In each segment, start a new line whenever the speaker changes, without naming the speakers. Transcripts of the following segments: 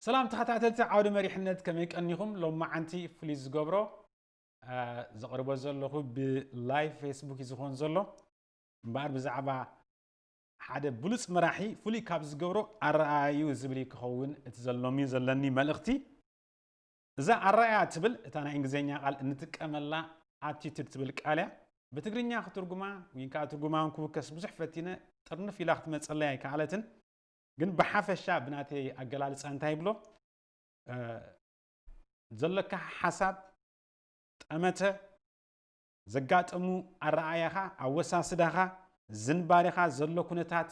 ሰላም ተኸታተልቲ ዓውደ መሪሕነት ከመይ ቀኒኹም? ሎማዓንቲ ፍሉይ ዝገብሮ ዘቕርቦ ዘለኹ ብላይቭ ፌስቡክ እዩ ዝኾን ዘሎ እምበኣር ብዛዕባ ሓደ ብሉፅ መራሒ ፍሉይ ካብ ዝገብሮ ኣረኣእዩ ዝብል ክኸውን እቲ ዘሎሚ ዘለኒ መልእኽቲ እዛ ኣራእያ እትብል እታ ናይ እንግሊዘኛ ቃል እንጥቀመላ ኣቲትድ ትብል ቃል እያ። ብትግርኛ ክትርጉማ ወይን ከኣ ትርጉማውን ክውከስ ብዙሕ ፈቲነ ጥርንፍ ኢላ ክትመጸለይ ኣይከኣለትን። ግን ብሓፈሻ ብናተይ ኣገላልጻ እንታይ ይብሎ ዘሎካ ሓሳብ፣ ጠመተ፣ ዘጋጠሙ ኣረኣእያኻ፣ ኣወሳስዳኻ፣ ዝንባሌኻ፣ ዘሎ ኩነታት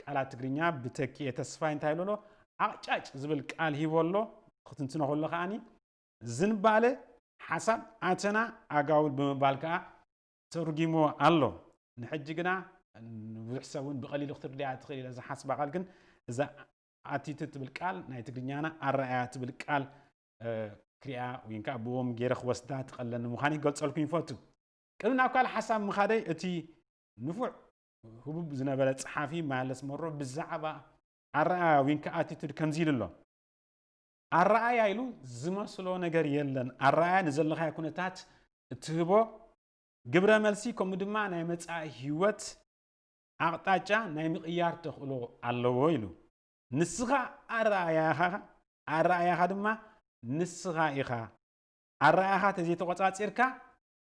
ቃላት ትግርኛ ብተኪኤ ተስፋይ እንታይ ኢሉ ኣሎ ዓቕጫጭ ዝብል ቃል ሂቡ ኣሎ ክትንትኖ ከሎ ከዓኒ ዝንባለ ሓሳብ ኣተና ኣጋውል ብምባል ከዓ ተርጊሞ ኣሎ ንሕጂ ግና ንብዙሕ ሰብ እውን ብቐሊሉ ክትርድያ ትኽእል ኢለ ዝሓስባ ቃል ግን እዛ ኣቲቱድ ትብል ቃል ናይ ትግርኛና ኣረኣያ ትብል ቃል ክሪኣ ወይ ከዓ ብዎም ገይረ ክወስዳ ትቐለኒ ምዃን ይገልፀልኩም ይፈቱ ቅድሚ ናብ ካልእ ሓሳብ ምኻደይ እቲ ንፉዕ ህቡብ ዝነበረ ጸሓፊ ማለስ መሮ ብዛዕባ ኣረኣያ ዊንካ ኣቲቱድ ከምዚ ኢሉ ኣሎ ኣረኣያ ኢሉ ዝመስሎ ነገር የለን ኣረኣያ ንዘለኻዮ ኩነታት እትህቦ ግብረ መልሲ ከምኡ ድማ ናይ መጻኢ ህይወት ኣቕጣጫ ናይ ምቕያር ተኽእሎ ኣለዎ ኢሉ ንስኻ ኣረኣያኻ ኣረኣያኻ ድማ ንስኻ ኢኻ ኣረኣያኻ ተዘይተቖጻጺርካ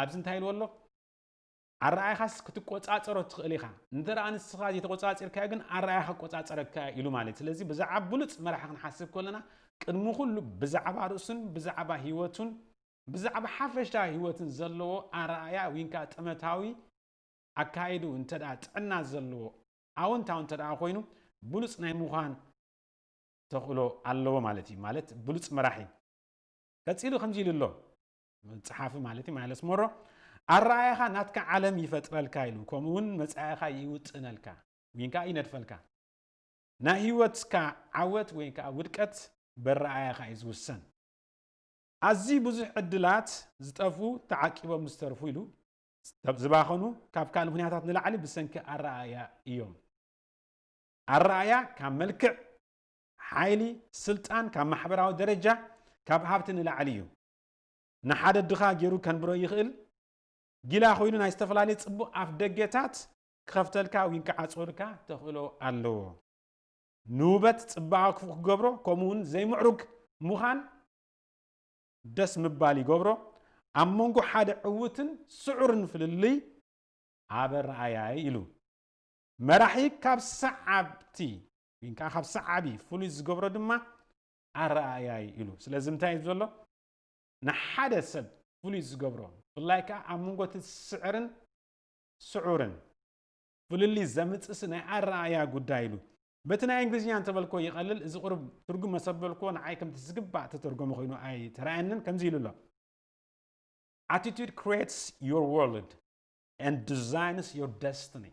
ኣብዚ እንታይ ኢልዎ ኣሎ? ኣረኣእያኻስ ክትቆጻጸሮ ትኽእል ኢኻ፣ እንተ ንስኻ ዘይተቖጻጺርካዮ ግን ኣረኣእያኻ ክቆጻጸረካ እዩ ኢሉ ማለት እዩ። ስለዚ ብዛዕባ ብሉጽ መራሒ ክንሓስብ ከለና ቅድሚ ኩሉ ብዛዕባ ርእሱን ብዛዕባ ህይወቱን ብዛዕባ ሓፈሻዊ ህይወትን ዘለዎ ኣረኣእያ ዊንካ ጥመታዊ ኣካይዱ እንተ ጥዕና ዘለዎ ኣወንታዊ እንተ ኮይኑ ብሉጽ ናይ ምዃን ተኽእሎ ኣለዎ ማለት እዩ ማለት ብሉጽ መራሒ ቀጺሉ ከምዚ ኢሉ ኣሎ ጸሓፊ ማለት እዩ ማይለስ ሞሮ ኣረኣያኻ ናትካ ዓለም ይፈጥረልካ ኢሉ ከምኡ እውን መጻኢኻ ይውጥነልካ ወይ ከዓ ይነድፈልካ ናይ ህይወትካ ዓወት ወይ ከዓ ውድቀት በረኣያኻ እዩ ዝውሰን ኣዝዩ ብዙሕ ዕድላት ዝጠፉ ተዓቂቦም ዝተርፉ ኢሉ ዝባኸኑ ካብ ካልእ ምክንያታት ንላዕሊ ብሰንኪ ኣረኣያ እዮም ኣረኣያ ካብ መልክዕ ሓይሊ ስልጣን ካብ ማሕበራዊ ደረጃ ካብ ሃብቲ ንላዕሊ እዩ ንሓደ ድኻ ጌሩ ከንብሮ ይኽእል፣ ጊላ ኮይኑ ናይ ዝተፈላለየ ጽቡቕ ኣፍደገታት ክኸፍተልካ ዊን ክዓጽወልካ ተኽእሎ ኣለዎ። ንውበት ጽባቐ ክፉእ ክገብሮ ከምኡ ውን ዘይምዕሩግ ምዃን ደስ ምባል ይገብሮ። ኣብ መንጎ ሓደ ዕውትን ስዑርን ፍልልይ ኣብ ርኣያይ ኢሉ። መራሒ ካብ ሰዓብቲ ዊን ከኣ ካብ ሰዓቢ ፍሉይ ዝገብሮ ድማ ኣረኣእያ እዩ ኢሉ። ስለዚ እንታይ እዩ ዘሎ ንሓደ ሰብ ፍሉይ ዝገብሮ ብፍላይ ከኣ ኣብ መንጎ እቲ ዝስዕርን ስዑርን ፍልልይ ዘምጽእሲ ናይ ኣረኣእያ ጉዳይ ኢሉ። በቲ ናይ እንግሊዝኛ እንተበልክዎ ይቐልል፣ እዚ ቁሩብ ትርጉም መሰበልክዎ ንዓይ ከምቲ ዝግባእ እተተርጎመ ኮይኑ ኣይተራእየንን፣ ከምዚ ኢሉ ኣሎ። Attitude creates your world and designs your destiny።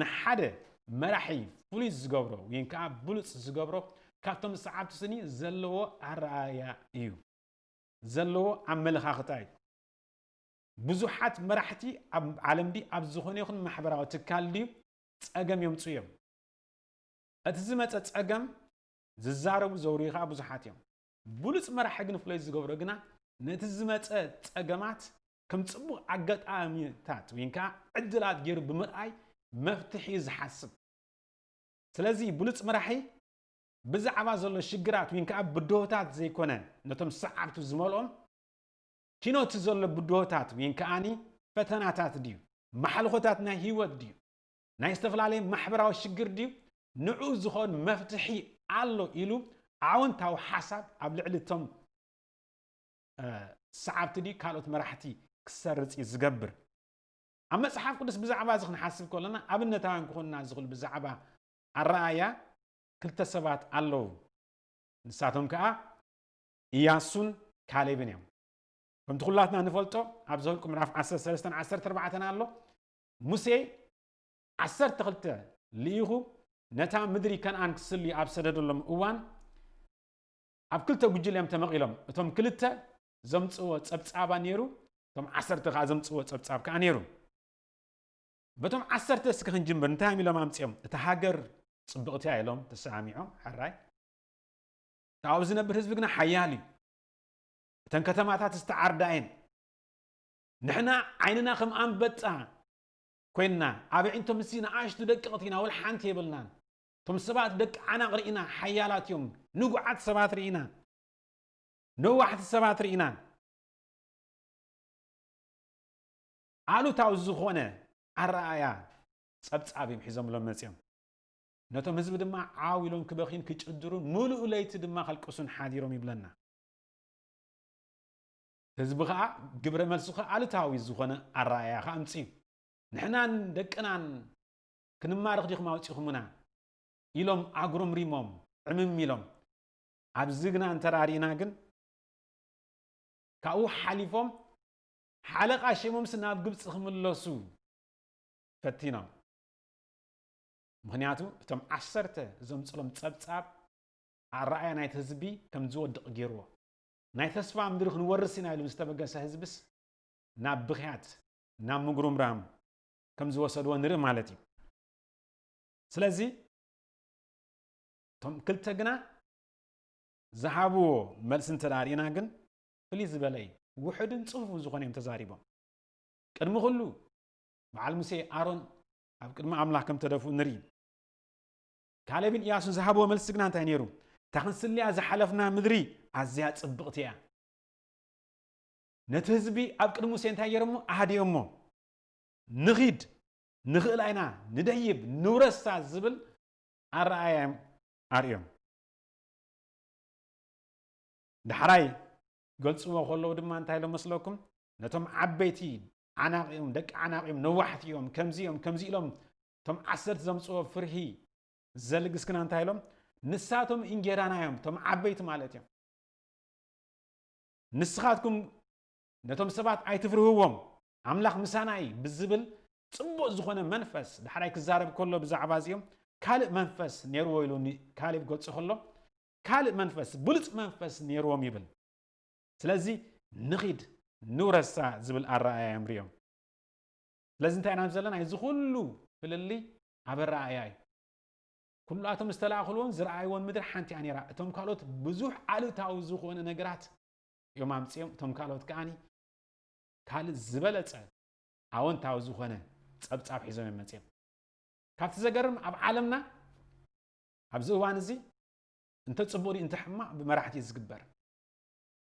ንሓደ መራሒ ፍሉይ ዝገብሮ ወይን ከኣ ብሉጽ ዝገብሮ ካብቶም ሰዓብቲ ስኒ ዘለዎ ኣረኣእያ እዩ። ዘለዎ ኣመለኻኽታ እዩ። ብዙሓት መራሕቲ ኣብ ዓለም ድዩ ኣብ ዝኾነ ይኹን ማሕበራዊ ትካል ድዩ ጸገም የምጽኡ እዮም። እቲ ዝመጸ ጸገም ዝዛረቡ ዘውርዩ ከኣ ብዙሓት እዮም። ብሉጽ መራሒ ግን ፍሉይ ዝገብሮ ግና ነቲ ዝመጸ ጸገማት ከም ጽቡቕ ኣጋጣሚታት ወይን ከኣ ዕድላት ገይሩ ብምርኣይ መፍትሕ እዩ ዝሓስብ። ስለዚ ብሉጽ መራሒ ብዛዕባ ዘሎ ሽግራት ወይን ከኣ ብድሆታት ዘይኮነ ነቶም ሰዓብቱ ዝመልኦም ኪኖቲ ዘሎ ብድሆታት ወይን ከኣኒ ፈተናታት ድዩ ማሕልኾታት ናይ ህይወት ድዩ ናይ ዝተፈላለየ ማሕበራዊ ሽግር ድዩ ንዑ ዝኾን መፍትሒ ኣሎ ኢሉ ኣወንታዊ ሓሳብ ኣብ ልዕሊ እቶም ሰዓብቲ ድዩ ካልኦት መራሕቲ ክሰርጽ እዩ ዝገብር። ኣብ መጽሓፍ ቅዱስ ብዛዕባ እዚ ክንሓስብ ከሎና ኣብነታውያን ክኾኑና ዝኽእሉ ብዛዕባ ኣረኣእያ ክልተ ሰባት ኣለዉ። ንሳቶም ከኣ እያሱን ካሌብን እዮም። ከምቲ ኩላትና ንፈልጦ ኣብ ዘውልቁ ምዕራፍ 13 14 ኣሎ ሙሴ ዓሰርተ ክልተ ልኢኹ ነታ ምድሪ ከነኣን ክስልዩ ኣብ ሰደደሎም እዋን ኣብ ክልተ ጉጅለ እዮም ተመቒሎም። እቶም ክልተ ዘምጽእዎ ጸብጻባ ነይሩ፣ እቶም ዓሰርተ ከኣ ዘምጽእዎ ጸብጻብ ከኣ ነይሩ። በቶም ዓሰርተ እስከ ክንጅምር፣ እንታይ እዮም ኢሎም ኣምጺኦም? እታ ሃገር ጽብቕቲ እያ ኢሎም ተሰማሚዖም፣ ሕራይ። እቲ ኣብኡ ዝነብር ህዝቢ ግና ሓያል እዩ። እተን ከተማታት ዝተዓርዳ እየን። ንሕና ዓይንና ከም ኣንበጣ ኮይና ኣብ ኣዒንቶም ምስዚ ንኣሽቱ ደቀቕቲ ኢና ወልሓንቲ የብልናን እቶም ሰባት ደቂ ዓናቕ ርኢና ሓያላት እዮም ንጉዓት ሰባት ርኢና ነዋሕቲ ሰባት ርኢና ኣሉታዊ ዝኾነ ኣረኣእያ ጸብጻብ እዮም ሒዞምሎም መጺኦም ነቶም ህዝቢ ድማ ዓው ኢሎም ክበኽዩን ክጭድሩን ምሉእ ለይቲ ድማ ከልቅሱን ሓዲሮም ይብለና ህዝቢ ከዓ ግብረ መልሱ ከዓ ኣሉታዊ ዝኾነ ኣረኣእያ ከዓ ኣምፅዩ ንሕናን ደቅናን ክንማረኽ ዲኹም ኣውጺኹምና ኢሎም ኣጉረምሪሞም ዕምም ኢሎም ኣብዚ ግና እንተራሪእና ግን ካብኡ ሓሊፎም ሓለቓ ሸሞምስ ናብ ግብፂ ክምለሱ ፈቲኖም ምክንያቱ እቶም ዓሰርተ ዘምፅሎም ፀብፃብ ኣረኣያ ናይቲ ህዝቢ ከም ዝወድቕ ገይርዎ ናይ ተስፋ ምድሪ ክንወርስ ኢና ኢሉ ዝተበገሰ ህዝብስ ናብ ብኽያት ናብ ምጉርምራም ከም ዝወሰድዎ ንርኢ ማለት እዩ ስለዚ እቶም ክልተ ግና ዝሃብዎ መልሲ እንተ ርእና ግን ፍልይ ዝበለ እዩ ውሕድን ፅፉፍ ዝኾነ እዮም ተዛሪቦም ቅድሚ ኩሉ በዓል ሙሴ ኣሮን ኣብ ቅድሚ ኣምላኽ ከም ተደፍኡ ንርኢ ካሌብን እያሱን ዝሃብዎ መልሲ ግና እንታይ ነይሩ እታ ክንስልያ ዝሓለፍና ምድሪ ኣዝያ ፅብቕቲ እያ ነቲ ህዝቢ ኣብ ቅድሚ ሙሴ እንታይ ገይሮሞ ኣሃዲኦሞ ንኺድ፣ ንኽእላ ኢና፣ ንደይብ፣ ንውረሳ ዝብል ኣረኣእያ'ዮም ኣርእዮም። ዳሕራይ ክገልጽዎ ከለዉ ድማ እንታይ ኢሎም መስለኩም? ነቶም ዓበይቲ ዓናቚ'ዮም፣ ደቂ ዓናቚ'ዮም፣ ነዋሕቲ'ዮም፣ ከምዚ'ዮም፣ ከምዚ ኢሎም እቶም ዓሰርተ ዘምጽዎ ፍርሂ ዘልግስክና እንታይ ኢሎም? ንሳቶም እንጌራና'ዮም፣ እቶም ዓበይቲ ማለት'ዮም። ንስኻትኩም ነቶም ሰባት ኣይትፍርህዎም፣ ኣምላኽ ምሳና እዩ ብዝብል ጽቡቕ ዝዀነ መንፈስ ዳሕራይ ክዛረብ ከሎ ብዛዕባ እዚኦም ካልእ መንፈስ ነይርዎ ኢሉ ንካሌብ ክገልጾ ከሎ ካልእ መንፈስ ብሉጽ መንፈስ ነይርዎም ይብል። ስለዚ ንኺድ ንውረሳ ዝብል ኣረኣእያ እዮም ርእዮም። ስለዚ እንታይ ኢና ዘለና እዚ ዅሉ ፍልልይ ኣብ ኣረኣእያ እዩ። ኵላቶም ዝተላእኽልዎን ዝረኣይዎን ምድሪ ሓንቲ እያ ነይራ፣ እቶም ካልኦት ብዙሕ ኣሉታዊ ዝዀነ ነገራት እዮም ኣምፅኦም እቶም ካልኦት ከዓ ካልእ ዝበለፀ ኣወንታዊ ዝኾነ ፀብፃብ ሒዞም እዮም መፅኦም ካብቲ ዘገርም ኣብ ዓለምና ኣብዚ እዋን እዚ እንተ ፅቡቅ እንተ ሕማቅ ብመራሕቲ እዩ ዝግበር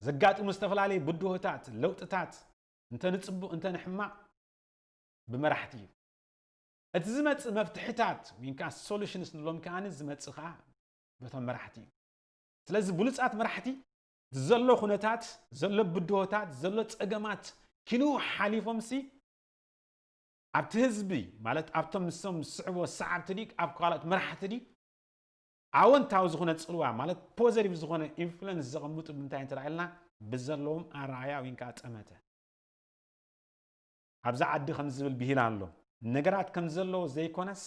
ዘጋጥሙ ዝተፈላለዩ ብድሆታት ለውጥታት እንተ ንፅቡቅ እንተ ንሕማቅ ብመራሕቲ እዩ እቲ ዝመፅእ መፍትሕታት ወይ ከዓ ሶሉሽንስ ንብሎም ከዓኒ ዝመፅእ ከዓ በቶም መራሕቲ እዩ ስለዚ ብሉፃት መራሕቲ ዘሎ ኩነታት ዘሎ ብድሆታት ዘሎ ፀገማት ኪንኡ ሓሊፎምሲ ኣብቲ ህዝቢ ማለት ኣብቶም ንሶም ዝስዕብዎ ሰዓብቲ ድዩ ኣብ ካልኦት መራሕቲ ድዩ ኣወንታዊ ዝኾነ ፅልዋ ማለት ፖዘቲቭ ዝኾነ ኢንፍሉንስ ዘቐምጡ ብምንታይ እንተረኣልና ብዘለዎም ኣረኣያ ወይ ከዓ ጠመተ ኣብዚ ዓዲ ከም ዝብል ብሂል ኣሎ ነገራት ከም ዘለዎ ዘይኮነስ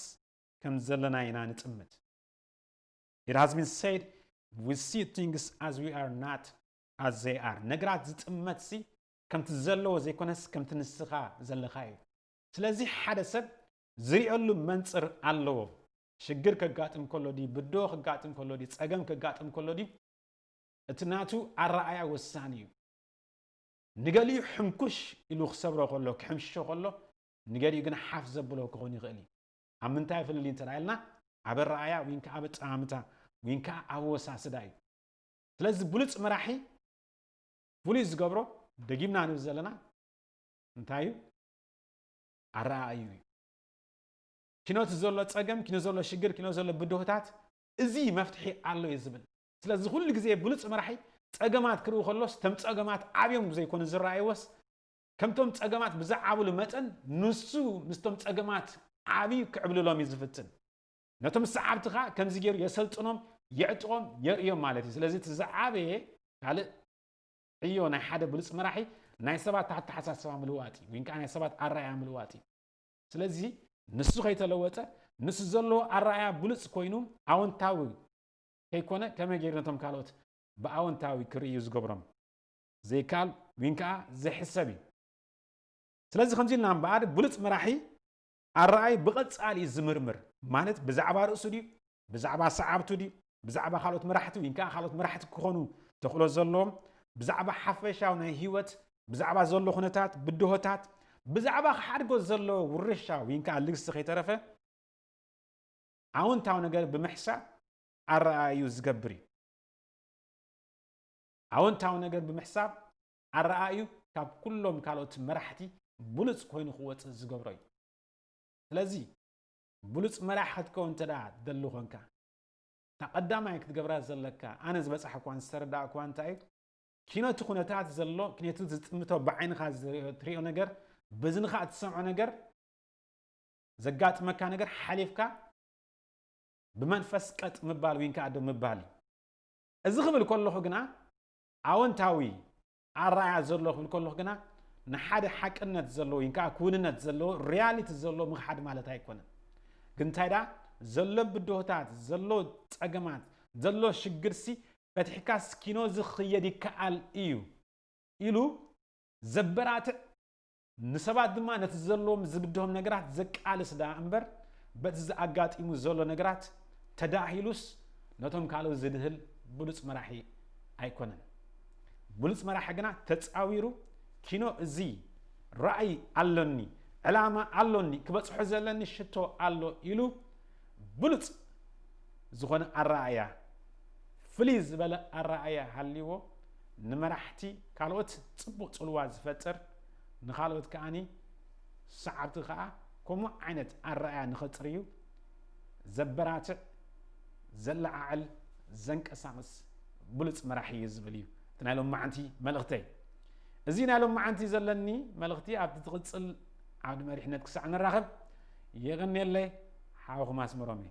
ከም ዘለና ኢና ንጥምት It has been said, we see things as we are not as they are. ነገራት ዝጥመት ሲ ከምቲ ዘለዎ ዘይኮነስ ከምቲ ንስኻ ዘለኻ እዩ። ስለዚ ሓደ ሰብ ዝሪኦሉ መንጽር ኣለዎ። ሽግር ከጋጥም ከሎ ድዩ ብድሆ ከጋጥም ከሎ ድዩ ጸገም ከጋጥም ከሎ ድዩ እቲ ናቱ ኣረኣያ ወሳኒ እዩ። ንገሊኡ ሕንኩሽ ኢሉ ክሰብሮ ከሎ ክሕምሽሾ ከሎ ንገሊኡ ግን ሓፍ ዘብሎ ክኾን ይኽእል እዩ። ኣብ ምንታይ ፍልልይ እንተ ኢልና ኣብ ኣረኣእያ ወይን ከኣ ኣብ ኣጠማምታ ወይን ከኣ ኣብ ኣወሳስዳ እዩ። ስለዚ ብሉጽ መራሒ ፍሉይ ዝገብሮ ደጊምና ንብል ዘለና እንታይ እዩ? ኣረኣእዩ እዩ። ኪኖቲ ዘሎ ጸገም፣ ኪኖ ዘሎ ሽግር፣ ኪኖ ዘሎ ብድሆታት እዚ መፍትሒ ኣሎ እዩ ዝብል። ስለዚ ኩሉ ግዜ ብሉጽ መራሒ ጸገማት ክርኢ ከሎስ ተም ጸገማት ዓብዮም ዘይኮኑ ዝረኣይዎስ ከምቶም ጸገማት ብዝዓብሉ መጠን ንሱ ምስቶም ጸገማት ዓብዩ ክዕብልሎም እዩ ዝፍትን። ነቶም ሰዓብቲ ከኣ ከምዚ ገይሩ የሰልጥኖም፣ የዕጥቖም፣ የርእዮም ማለት እዩ። ስለዚ እቲ ዝዓበየ ካልእ ዕዮ ናይ ሓደ ብሉጽ መራሒ ናይ ሰባት ኣተሓሳስባ ምልዋጥ እዩ፣ ወይን ከኣ ናይ ሰባት ኣረኣእያ ምልዋጥ እዩ። ስለዚ ንሱ ከይተለወጠ ንሱ ዘለዎ ኣረኣእያ ብሉጽ ኮይኑ ኣወንታዊ ከይኮነ ከመይ ገይሩ ነቶም ካልኦት ብኣወንታዊ ክርእዩ ዝገብሮም? ዘይከኣል ግን ከኣ ዘይሕሰብ እዩ። ስለዚ ከምዚ ኢልና እምበኣር ብሉጽ መራሒ ኣረኣእይ ብቐጻሊ እዩ ዝምርምር፣ ማለት ብዛዕባ ርእሱ ድዩ፣ ብዛዕባ ሰዓብቱ ድዩ፣ ብዛዕባ ካልኦት መራሕቲ ወይ ከኣ ካልኦት መራሕቲ ክኾኑ ተኽእሎ ዘለዎም፣ ብዛዕባ ሓፈሻዊ ናይ ህይወት፣ ብዛዕባ ዘሎ ኩነታት፣ ብድሆታት፣ ብዛዕባ ክሓድጎ ዘለዎ ውርሻ ወይ ከኣ ልግሲ ከይተረፈ ኣውንታዊ ነገር ብምሕሳብ ኣረኣእይኡ ዝገብር እዩ። ኣወንታዊ ነገር ብምሕሳብ ኣረኣእዩ ካብ ኩሎም ካልኦት መራሕቲ ብሉጽ ኮይኑ ክወጽእ ዝገብሮ እዩ። ስለዚ ብሉጽ መራሒ ክትከውን እንተድኣ ትደሊ ኮንካ፣ እታ ቀዳማይ ክትገብራ ዘለካ፣ ኣነ ዝበጻሕክዋን ዝተረዳእክዋን እንታይ እዩ፣ ኪኖቲ ኩነታት ዘሎ፣ ኪኖቲ ዝጥምቶ ብዓይንኻ ትርእዮ ነገር፣ በዝንኻ እትሰምዖ ነገር፣ ዘጋጥመካ ነገር ሓሊፍካ ብመንፈስ ቀጥ ምባል ዊንከኣ ደው ምባል እዩ። እዚ ክብል ከለኹ ግና ኣወንታዊ ኣረኣእያ ዘሎ ክብል ከለኹ ግና ንሓደ ሓቅነት ዘለዎ ወይ ከዓ ክውንነት ዘለዎ ሪያሊቲ ዘለዎ ምኽሓድ ማለት ኣይኮነን ግን እንታይ ደኣ ዘሎ ብድሆታት ዘሎ ፀገማት ዘሎ ሽግርሲ ፈትሕካ ስኪኖ ዝኽየድ ይከኣል እዩ ኢሉ ዘበራትዕ ንሰባት ድማ ነቲ ዘለዎም ዝብድሆም ነገራት ዘቃልስ ደኣ እምበር በቲ ዝኣጋጢሙ ዘሎ ነገራት ተዳሂሉስ ነቶም ካልኦት ዝድህል ብሉጽ መራሒ ኣይኮነን። ብሉጽ መራሒ ግና ተጻዊሩ ኪኖ እዚ ራእይ ኣሎኒ፣ ዕላማ ኣሎኒ፣ ክበጽሖ ዘለኒ ሽቶ ኣሎ ኢሉ ብሉጽ ዝኾነ ኣረኣእያ ፍልይ ዝበለ ኣረኣእያ ሃልይዎ ንመራሕቲ ካልኦት ጽቡቕ ጽልዋ ዝፈጥር ንኻልኦት ከኣ ሰዓብቲ ከኣ ከምኡ ዓይነት ኣረኣያ ንኸጽርዩ ዘበራትዕ፣ ዘለዓዕል፣ ዘንቀሳቕስ ብሉጽ መራሒ እዩ ዝብል እዩ እቲ ናይ ሎማዓንቲ መልእኽተይ። እዚ ናይ ሎማዓንቲ ዘለኒ መልእኽቲ ኣብቲ ትቕጽል ዓውዲ መሪሕነት ክሳዕ ንራኸብ የቐንየለይ ሓውኹም ኣስመሮም እየ።